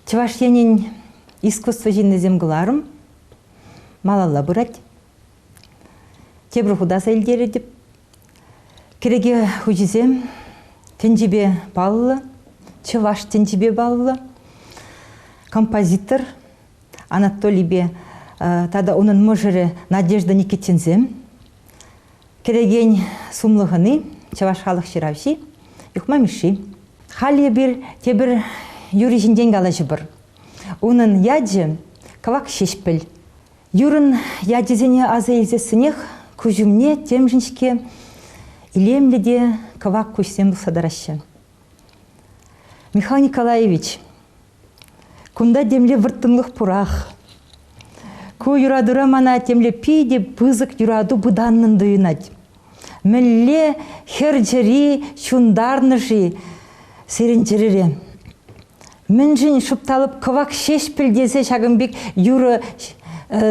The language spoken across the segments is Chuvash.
Чӑваш Енӗн искусство ҫыннисем кӑларӑм малалла пырать. Тепӗр хута аса илтеретӗп. Кӗреке хуҫисем тӗнчипе паллӑ, чӑваш тӗнчипе паллӑ. Композитор Анатолийпе тата унӑн мӑшӑрӗ Надежда Никитинсем Кӗрекен сумлӑ хӑни, чӑваш халӑх ҫыравҫи Юхма Мишши. Халь эпир тепӗр юрри ҫинчен калаҫӑпӑр. Унӑн ячӗ Кӑвак Ҫеҫпӗл. Юрӑн ячӗсене аса илсессӗнех куҫ умне темшӗн-ҫке илемлӗ те кӑвак куҫсем тухса тӑраҫҫӗ. Михаил Николаевич, Кунта темле вӑрттӑнлӑх пурах. Ку юратура мана темле питӗ пысӑк юрату пытаннӑн туйӑнать. Мӗнле хӗр чӗри ҫунтарнӑ-ши сирӗн чӗрере? Мӗншӗн шупталӑп кӑвак ҫеҫпӗл тесе ҫакӑн пек юрӑ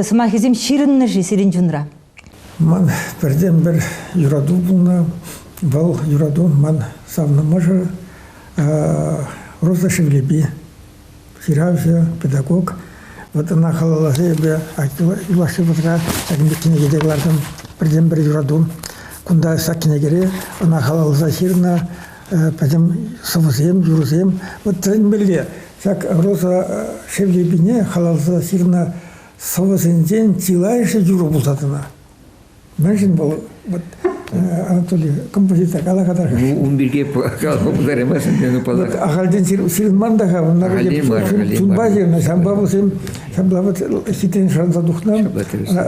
сӑмахӗсем ҫырӑннӑ-ши сирӗн чунра? Ман пӗртен-пӗр юрату пулнӑ. Вӑл юрату ман савнӑ мӑшӑр Роза Шевлепи, ҫыравҫӑ, педагог. Вӑт ӑна халалласа эпӗ юлашки вӑхӑтра ҫакӑн пек кӗнеке те кӑлартӑм. Пӗртен-пӗр юрату. Кунта ҫак кӗнекере ӑна халалласа ҫырнӑ пӗтӗм сӑвӑсем, юрӑсем. Вӑт тӗлӗнмелле, ҫак Роза Шевлепине халалласа ҫырнӑ сӑвӑсенчен чылайӑшӗ юрӑ пулса тӑнӑ. Мӗншӗн вӑл вот, э, Анатолий композитор кала-кала ун пирки каласа пултараймасӑн тенӗ палах. Ахальтен ҫырӑнман та-ха унна. Чунпа ҫырнӑ, ҫампа вӗсем ҫапла вот хитрен шанса тухнӑ.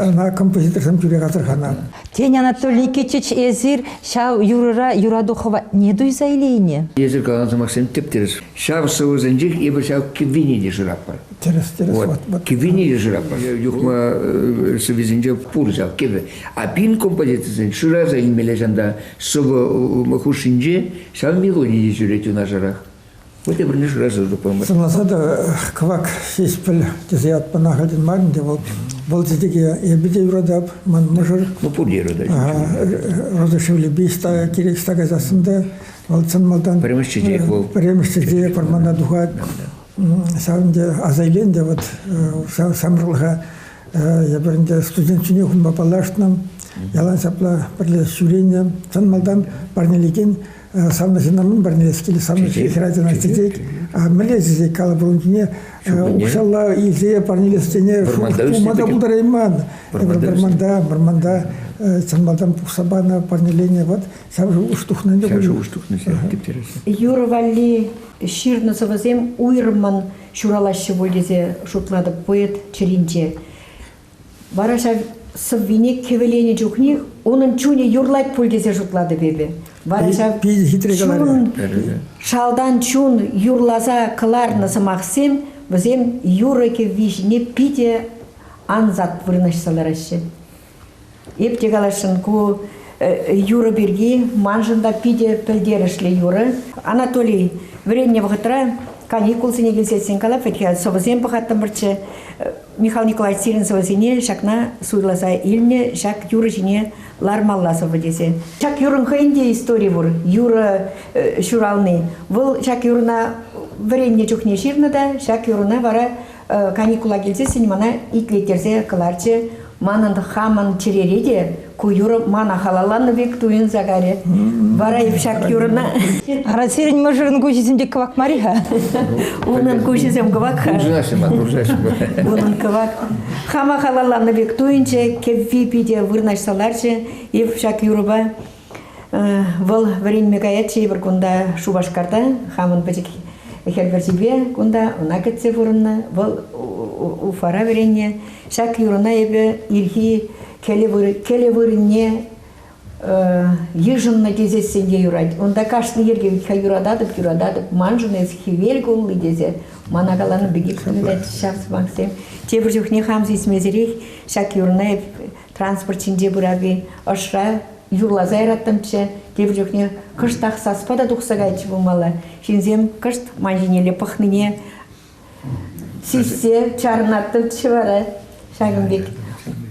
Ӑна композиторсем тӳрех асӑрханӑ. Тен, Анатолий Никитич, эсир ҫав юрӑра юрату хӑватне туйса илейнӗ? Эсир каланӑ сӑмахсем тӗп-тӗрӗс. Ҫав сӑвӑсенчех эпир ҫав кӗввине те шыратпӑр. Тӗрӗс, тӗрӗс. Вот. Вот, вот. Кӗввине те шыратпӑр. Юхма э, сӑвисенче пур ҫав кӗвӗ. А пин композицисен шыраса илмелле ҫанта сӑвӑ хушшинче ҫав мелоди те ҫӳрет юнашарах. Вӗте пӗрле шыраса тупмӑр. Сӑнласа та кӑвак ҫеҫпӗл тесе ятпана хатӗн мар ӗнтӗ вӑл. Вӑл тетеке эпӗ те юратап, ман мӑшӑр. Ну, пур те юратать. Роза Шевлепи кирек ста кайсассӑн та Вӑл чӑн малтан пӗрремӗш чечек вӑл. Пӗрремӗш чечек вӑрмана тухать. Ҫав ӗнтӗ аса илен те вот ҫамрӑклӑха эпир ӗнтӗ студент ҫине хумпа паллашнӑ. Ялан ҫапла пӗрле ҫӳренӗ. Чӑн малтан парнелекен савнӑ ҫыннӑн парнелес килет, савнӑ хӗрачана чечек, а мӗнле чечек калӑп унӑн чухне укҫалла илсе парнелес тене пулма та пултарайман. Вӑрманта, вӑрманта чӑн малтан пухса панӑ парнелене вот Ҫав шухӑш тухнӑ ӗнтӗ. Ҫав шухӑш тухнӑ ҫав, типтереҫҫӗ. Юр валли ҫырнӑ сӑвӑсем уйрӑммӑн ҫуралаҫҫӗ пуль тесе шутлатӑп поэт чӗринче. Вара ҫав сӑввине кӗвӗленӗ чухнех унӑн чунӗ юрлать пуль тесе шутлатӑп эпӗ. Вара ҫав чун, шалтан чун юрласа кӑларнӑ сӑмахсем вӗсем юрӑ-кӗвви ҫине питӗ ансат вырнаҫса лараҫҫӗ. Эп те каласшӑн, ку юрӑ пирки маншӑн та питӗ пӗлтерӗшлӗ юрӑ. Анатолий вӗреннӗ вӑхӑтра каникулсене килсе ҫитсен калафет сӑвӑсем пӑхаттӑмӑрччӗ. Михаил Николаевич сирӗн сӑвӑсене ҫакна суйласа илнӗ, ҫак юрӑ ҫине лармалла сӑвӑ тесе. Ҫак юрӑн хӑйӗн те истори пур, юрӑ ҫурални. Вӑл ҫак юрӑна вӗреннӗ чухне ҫырнӑ та ҫак юрӑна вара каникула килсе сӗнь мана итлеттерсе кӑларчӗ. Манӑн хамӑн чӗрере те ку юрӑ мана халалланӑ пек туйӑнса карӗ. Вара ҫак юрӑна... Ара, сирӗн мӑшӑрӑн куҫӗсенче кӑвак мар-и-ха? Унӑн куҫӗсем кӑвак-ха. Куржаҫҫӗ-ма, куржаҫҫӗ-ма. Унӑн кӑвак. Хама халалланӑ пек туйӑнчӗ. Кӗвви питӗ вырнаҫса ларчӗ ҫак юрӑпа. Вӑл вӗренме каять тейӗпӗр кунта Шупашкарта, хамӑн пӗчӗк хӗл пӗрчипе кунта ӑна кӗтсе пурӑннӑ. Вӑл Уфара вӗреннӗ. Ҫак юрӑна эпӗ ирхи кӗле вырӑнне йышӑннӑ тесессӗн те юрать. Унта кашни йӗрке юрататӑп, юрататӑп. Маншӑн эс хӗвел кулли тесе мана каланӑ пекех сунать ҫав сӑмахсем. Тепӗр чухне хам сисмесӗрех ҫак юрӑна эп Транспорт ҫинче пырави ӑшра юрласа яраттӑмччӗ, тепӗр чухне кӑштах саспа та тухса кайчӗ пулмалла. Ҫынсем кӑшт ман ҫинелле пӑхнине сиссе чарӑнаттӑмччӗ вара ҫакӑн пек.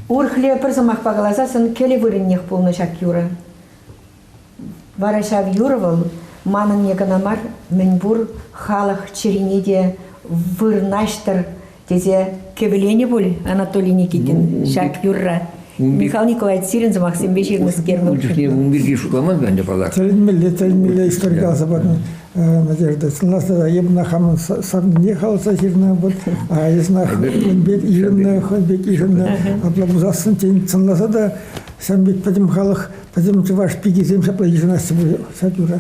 Урӑхле пӗр сӑмахпа каласан кӗлӗ вырӑннех пулнӑ ҫак юрӑ. Вара ҫав юрӑ вӑл манӑнне кӑна мар, мӗнпур халӑх чӗрине те вырнаҫтӑр тесе кӗвӗленӗ пуль Анатолий Никитин ҫак юрра. Михаил Николаевич сирӗн сӑмахсемпе ҫырнӑскер. Ун чухне ун пирки шутламан ӗнтӗ паллах. Тӗлӗнмелле, тӗлӗнмелле историка сапатын надежда. Сӑнасӑра эпна хамӑн савнине халаса ҫырнӑ вӑл. А эсна хӑй пек ишӗннӗ, хӑй пек ишӗннӗ. Апла пулсассӑн тен сӑнласа та ҫавӑн пек пӗтӗм халӑх Вӗсем чӑваш пикисем ҫапла йышӑнаҫҫӗ сатюра.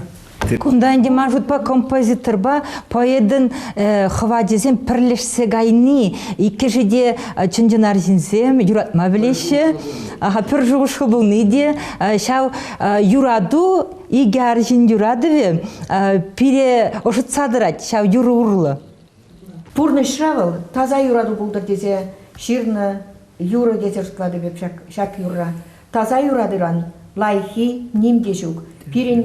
Кунта ӗнтӗ ман шутпа композиторпа поэтӑн э, хӑвачӗсем пӗрлешсе кайни иккӗшӗ те э, чӑн-чӑн арҫынсем юратма пӗлеҫҫӗ. Аха пӗр шухӑшлу пулни те э, ҫав юрату икӗ арҫын юратӑвӗ пире ӑшӑтса тӑрать ҫав юрӑ урлӑ. Пурнӑҫра вӑл таса юрату пултӑр тесе ҫырнӑ юрӑ тесе шутлатӑп эп ҫак, ҫак юрра. Таса юратыран лайӑххи ним те ҫук. Пирӗн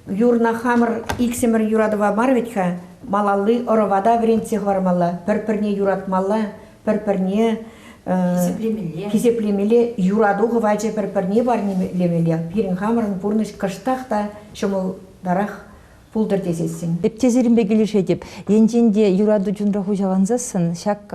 юрна хамӑр иксӗмӗр юратӑва мар вӗт-ха, малалли ӑрӑва та вӗрентсе хӑвармалла, пӗр-пӗрне юратмалла, пӗр-пӗрне хисеплемелле. хисеплемелле, юрату хӑвачӗ пӗр-пӗрне парнелемелле. Пирӗн хамӑрӑн пурнӑҫ кӑштах та ҫӑмӑлтарах пултӑр тесессӗн. Эп те сирӗнпе килӗшетӗп. Енчен те юрату чунра хуҫалансассӑн ҫак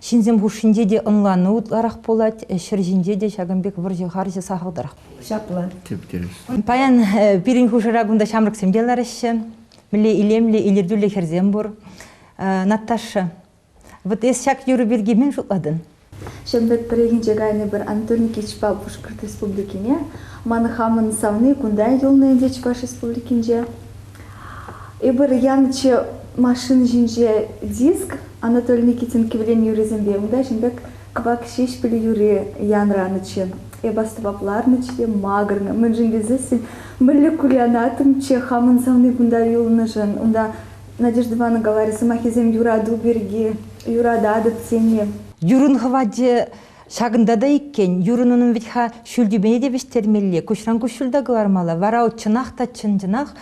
ҫынсем хушшинче те ӑнлану ытларах пулать, ҫӗр ҫинче те ҫакӑн пек вӑрҫӑ-харҫӑ сахалтарах ҫапла. Типтерлӗ. Паян пирӗн хушӑра кунта ҫамрӑксем те лараҫҫӗ. Мӗнле илемлӗ, илӗртӳллӗ хӗрсем пур. Наташа, Вот эс ҫак юрӑ пирки мӗн шутлатӑн? Ҫӗнпӗт пӗррехинче кайнӑ пӗр Антон Никитичпа Пушкӑрт Республикине, ман хамӑн савни кунта юлнӑ ӗнтӗ Чӑваш Республикинче. Эпир янӑччӗ машина ҫинче диск Анатолий Никитин кӗвӗлен юррисемпе. Унта ҫын пек кӑвак ҫеҫпӗлӗ юрри янӑранӑччӗ. Эп астӑвап ларнӑччӗ те макӑрнӑ, мӗншӗн тесессӗн мӗнле курянатӑмччӗ хамӑн савни кунта юлнӑшӑн. Унта Надежда Ивановна говорит, сӑмахӗсем юрату пирки, юрататӑп сене. Юрӑн хӑвачӗ ҫакӑнта та иккен. Юрӑн унӑн вӗт-ха ҫӳл тӳпене те вӗҫтермелле, куҫран куҫ ҫул та кӑлармалла. Вара вӑл чӑнах та чӑн-чӑнах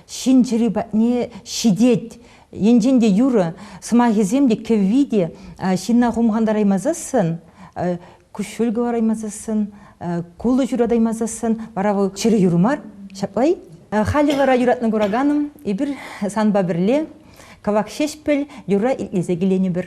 ҫын чӗри патне ҫитет. Енчен те юрӑ сӑмахӗсем те кӗвви те ҫынна хумхантараймасассӑн куҫҫуль кӑлараймасассӑн, кулӑ ҫуратаймасассӑн, вара вӑл чӗрӗ юр мар, ҫапла-и? Халӗ вара юратнӑ кураканӑм, эпир санпа пӗрле кӑвак ҫеҫпӗл юрра итлесе киленӗпӗр.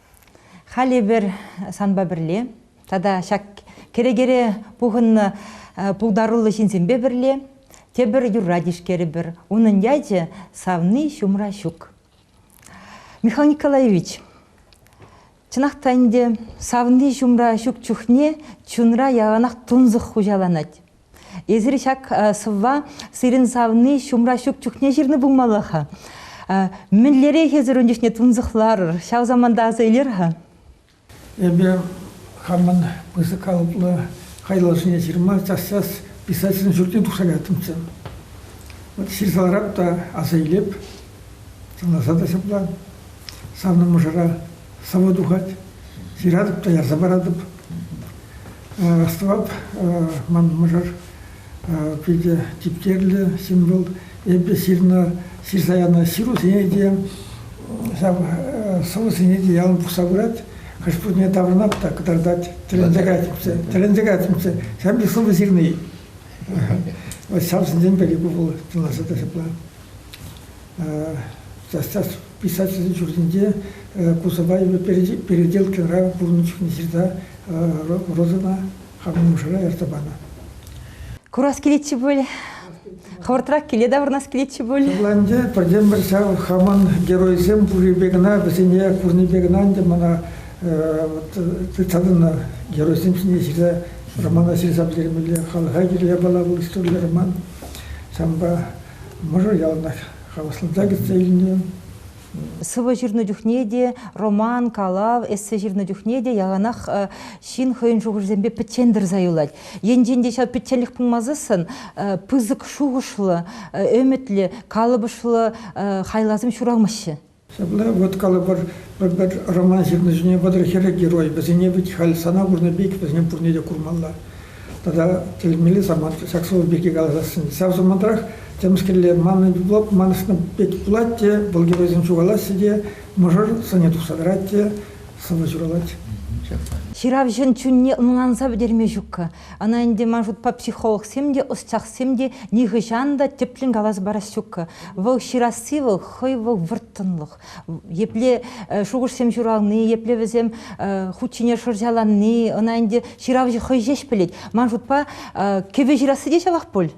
Халь эпир санпа пӗрле тата ҫак кӗрекере пухӑннӑ пултаруллӑ ҫынсемпе пӗрле тепӗр юрра тишкерӗпӗр. Унӑн ячӗ «Савни ҫумра ҫук». Михаил Николаевич, чӑнах та ӗнтӗ савни ҫумра ҫук чухне чунра яланах тунсӑх хуҫаланать. Эсир ҫак сӑвва сирӗн савни ҫумра ҫук чухне ҫырнӑ пулмалла-ха. Мӗнлерех эсир ун чухне тунсӑхларӑр, ҫав саманта аса илер-ха? Эпӗ хамӑн пысӑк калӑплӑ хайлавсене ҫырма час-час писательсен ҫуртне тухса кайаттӑмччӗ. Вӑт ҫырса ларап та аса илеп, сӑнласа та ҫапла. Санӑн мӑшӑра сӑвӑ тухать, ҫыратӑп та ярса паратӑп. Расстӑвап ман мӑшӑр питӗ типтерлӗ ҫын вӑл. Эпӗ ҫырнӑ ҫырса янӑ ҫырусене те, ҫав сӑвӑсене те ялан пухса пырать. Хӑш-пӗрне таврӑнап та кӑтартать, тӗлӗнсе кайатӑмччӗ, тӗлӗнсе кайатӑмччӗ. Ҫав пек сӑвӑ ҫырни. Вот ҫавсенчен пӗри ку вӑл, пуласа та ҫапла. Писательсен ҫуртӗнче кусӑпа Переделкинра пурӑннӑ чухне ҫырса Розӑна хамӑн нушара ярса панӑ. Курас килетчӗ пуль. Хӑвӑртрах киле таврӑнас килетчӗ пуль. Ывла ӗнтӗ пӗртен-пӗр ҫав хамӑн геройсем пуррипе кӑна, вӗсене курнипе кӑна ӗнтӗ мана тытса геройсем ҫине ҫырса романа ҫырса пӗтермелле. Халӑха кирлӗ япала вӑл историллӗ роман. Ҫавӑнпа Мӑшӑр яланах хавасланса кӗтсе илнӗ. Сӑвӑ ҫырнӑ чухне те, роман, калав, эссе ҫырнӑ чухне те яланах ҫын хӑйӗн шухӑшӗсемпе пӗччен тӑрса юлать. Енчен те ҫав пӗчченлӗх пулмасассӑн пысӑк шухӑшлӑ, ӗмӗтлӗ, калӑпӑшлӑ хайласем ҫуралмаҫҫӗ. Ҫапла, вот калӑпӑр, пӗр-пӗр роман ҫырнӑ ҫине вӑтӑр хӗрӗ герой. Вӗсене вӗт халь сана курнӑ пек, вӗсене пурне те курмалла. Тата тӗлӗнмелле самант, ҫак сӑвӑ пирки каласассӑн. Ҫав самантрах темскерле маннӑ лӑп манӑшнӑ пек пулать те, вӑл геройсем ҫухалаҫҫӗ те, мӑшӑр сӑнӗ тухса тӑрать те сӑвӑ ҫуралать. Ҫыравҫӑн чунне ӑнланса пӗтерме ҫук-ха. Ӑна ӗнтӗ, ман шутпа, психологсем те, ӑсчахсем те нихӑҫан та тӗплӗн калас парас ҫук. Вӑл ҫырасси вӑл хӑй вӑл вӑрттӑнлӑх. Епле шухӑшсем ҫурални, епле вӗсем хут ҫине шӑрҫаланни ӑна ӗнтӗ ҫыравҫӑ хӑй ҫеҫ пӗлет. Ман шутпа, кӗвӗ ҫырасси те ҫавах пуль.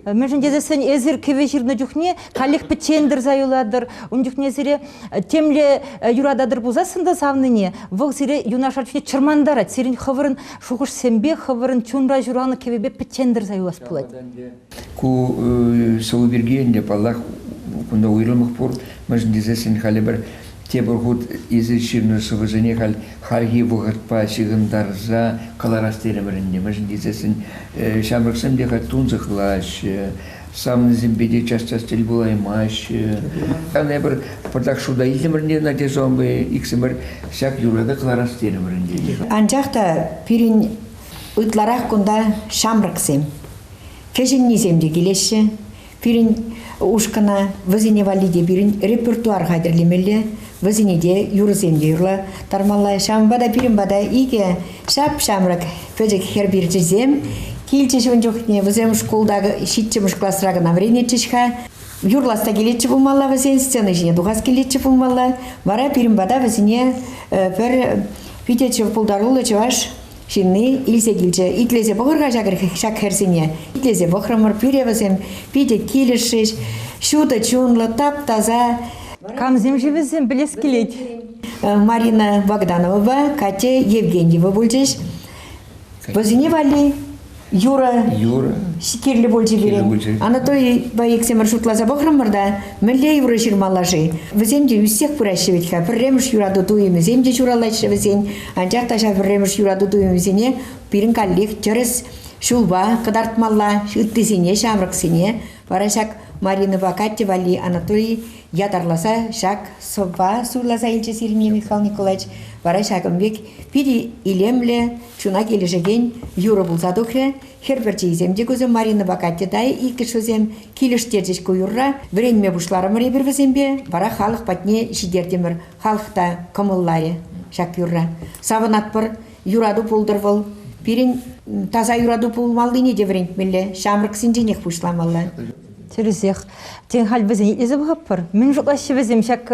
Мӗншӗн тесен эсир кӗвӗ ҫырнӑ чухне каллех пӗччен тӑрса юлатӑр, ун чухне сире темле юрататӑр пулсассӑн та савнине, вӑл сире юнашар чухне чӑрмантарать. Сирӗн хӑвӑрӑн шухӑшсемпе, хӑвӑрӑн чунра ҫуралнӑ кӗвӗпе пӗччен тӑрса юлас пулать. Ку сӑвӑ пирки ӗнтӗ, паллах, кунта уйрӑмах пур. Мӗншӗн тесен халӗ пӗр Тепӗр хут эсир ҫырнӑ сӑвӑсене халь хальхи вӑхӑтпа ҫыхӑнтарса кӑларас терӗмӗр ӗнтӗ. Мӗншӗн тесессӗн ҫамрӑксем те халь тунсӑхлаҫҫӗ, савнисемпе те час-час тӗл пулаймаҫҫӗ. Хан эпир пӑртак шута илтӗмӗр ӗнтӗ Надежда унпа иксӗмӗр ҫак юрӑпа кӑларас терӗмӗр ӗнтӗ. Анчах та пирӗн ытларах кунта ҫамрӑксем, кӗҫӗннисем те килеҫҫӗ. Пирӗн ушкӑна вӗсене валли те пирӗн репертуар хатӗрлемелле, вӗсене те юрӑсем те юрлаттармалла. Ҫавӑнпа та пирӗн пата икӗ ҫап-ҫамрӑк пӗчӗк хӗр пирчисем килчӗҫ ун чухне. Вӗсем шкулта ҫиччӗмӗш класра кӑна вӗренетчӗҫ-ха. Юрлас та килетчӗ пулмалла вӗсен, сцена ҫине тухас килетчӗ пулмалла. Вара пирӗн пата вӗсене пӗр питӗ пултаруллӑ чӑваш Ҫынни илсе килчӗ. Итлесе пӑхӑр-ха ҫак хӗрсене. Итлесе пӑхрӑмӑр, пӳре вӗсем питӗ килӗшрӗҫ. Ҫутӑ чунлӑ, тап-таса. Камсем-ши вӗсем, пӗлес килет. Э, Марина Богдановӑпа Катя Евгеньева пулчӗҫ. Вӗсене валли Юрӑ. Юрӑ. Кирлӗ пулчӗ пире. Кирлӗ пулчӗ. Анатольпа иксӗмӗр шутласа пӑхрӑмӑр та мӗнле юрӑ ҫырмалла-ши? Вӗсем те ӳссех пыраҫҫӗ вӗт-ха. Пӗрремӗш юрату туйӑмӗсем те ҫуралаҫҫӗ вӗсен. Анчах та ҫав пӗрремӗш юрату туйӑмӗсене пирӗн каллех тӗрӗс ҫулпа кӑтартмалла, ыттисене, ҫамрӑксене. Вара ҫак Маринӑпа Катя валли Анатолий ятарласа ҫак сӑвва суйласа илчӗ Сергей Михайлович Николаевич. Вара ҫакӑн пек питӗ илемлӗ, чуна килӗшекен юрӑ пулса тухрӗ. Хӗр пӗрчийӗсем те кусем, Маринӑпа Катя та иккӗш вӗсем килӗштерчӗҫ ку юрра. Вӗренме пуҫларӑмӑр эпир вӗсемпе, вара халӑх патне ҫитертӗмӗр. Халӑх та кӑмӑлларӗ ҫак юрра. Савӑнатпӑр, юрату пултӑр вӑл. Пирӗн таса юрату пулмаллине те вӗрентмелле, ҫамрӑксенченех пуҫламалла. Тӗрӗсех. Тен, халь вӗсене итлесе пӑхӑппӑр. Мӗн шутлаҫҫӗ вӗсем ҫак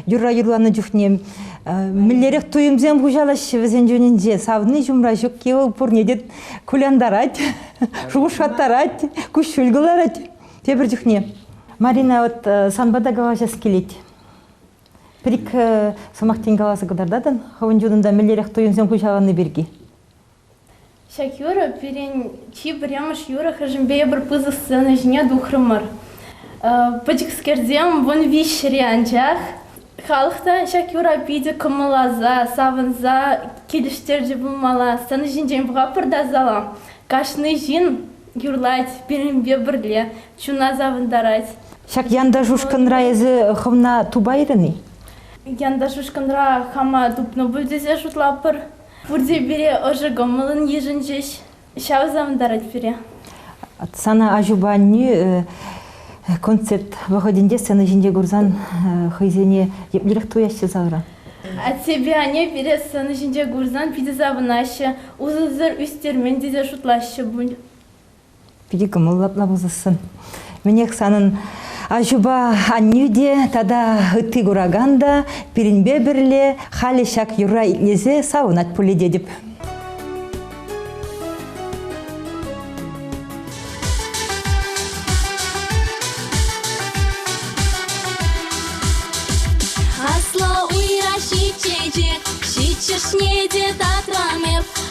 юрра юрланӑ чухне? Мӗнлерех туйӑмсем хуҫалаҫҫӗ вӗсен чунӗнче? Савни ҫумра ҫукки вӑл пурне те кулянтарать, шухӑшлаттарать, куҫҫуль кӑларать. Тепӗр чухне Марина вот санпа та калаҫас килет. Пӗр-ик сӑмах тин каласа кӑтартатӑн хӑвӑн чунунта мӗнлерех туйӑмсем хуҫаланни пирки. Ҫак юрӑ пирӗн чи пӗрремӗш юрӑ-хӗшӗмпе эпир пысӑк сцена ҫине тухрӑмӑр. Пӗчӗкскерсем вун виҫҫӗре анчах халӑх та ҫак юра питӗ кӑмӑлласа, савӑнса килӗштерчӗ пулмалла. Сцена ҫинчен пӑхатпӑр та зала кашни ҫын юрлать пирӗнпе пӗрле, чуна савӑнтарать. Ҫак янташ ушкӑнра эсӗ хӑвна тупайрӑн-и? Янташ ушкӑнра хама тупнӑ пуль тесе шутлатпӑр. Пурте пире ӑшӑ кӑмӑллӑн йышӑнчӗҫ, ҫав савӑнтарать пире. Сана аҫупа аннӳ концерт вӑхӑтӗнче сцена ҫинче курсан хӑйсене еплерех туяҫҫӗ савра? Аттепе анне пире сцена ҫинче курсан питӗ савӑнаҫҫӗ, усӑсӑр ӳстермен тесе шутлаҫҫӗ пуль. Питӗ кӑмӑллӑ апла пулсассӑн. Мӗнех санӑн аҫупа аннӳ те тата ытти куракан та пирӗнпе пӗрле халӗ ҫак юрра итлесе савӑнать пулӗ тетӗп. Аслӑ уйра ҫиччӗ чечек, ҫиччӗшне те татрам эп.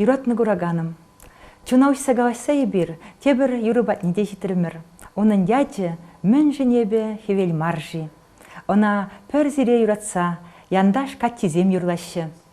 Юратнӑ кураканӑм, чуна уҫса калаҫса эпир тепӗр юрӑ патне те ҫитрӗмӗр. Унӑн ячӗ мӗншӗн эпӗ хӗвел мар-ши? Ӑна пӗр сире юратса янташ каччисем юрлаҫҫӗ.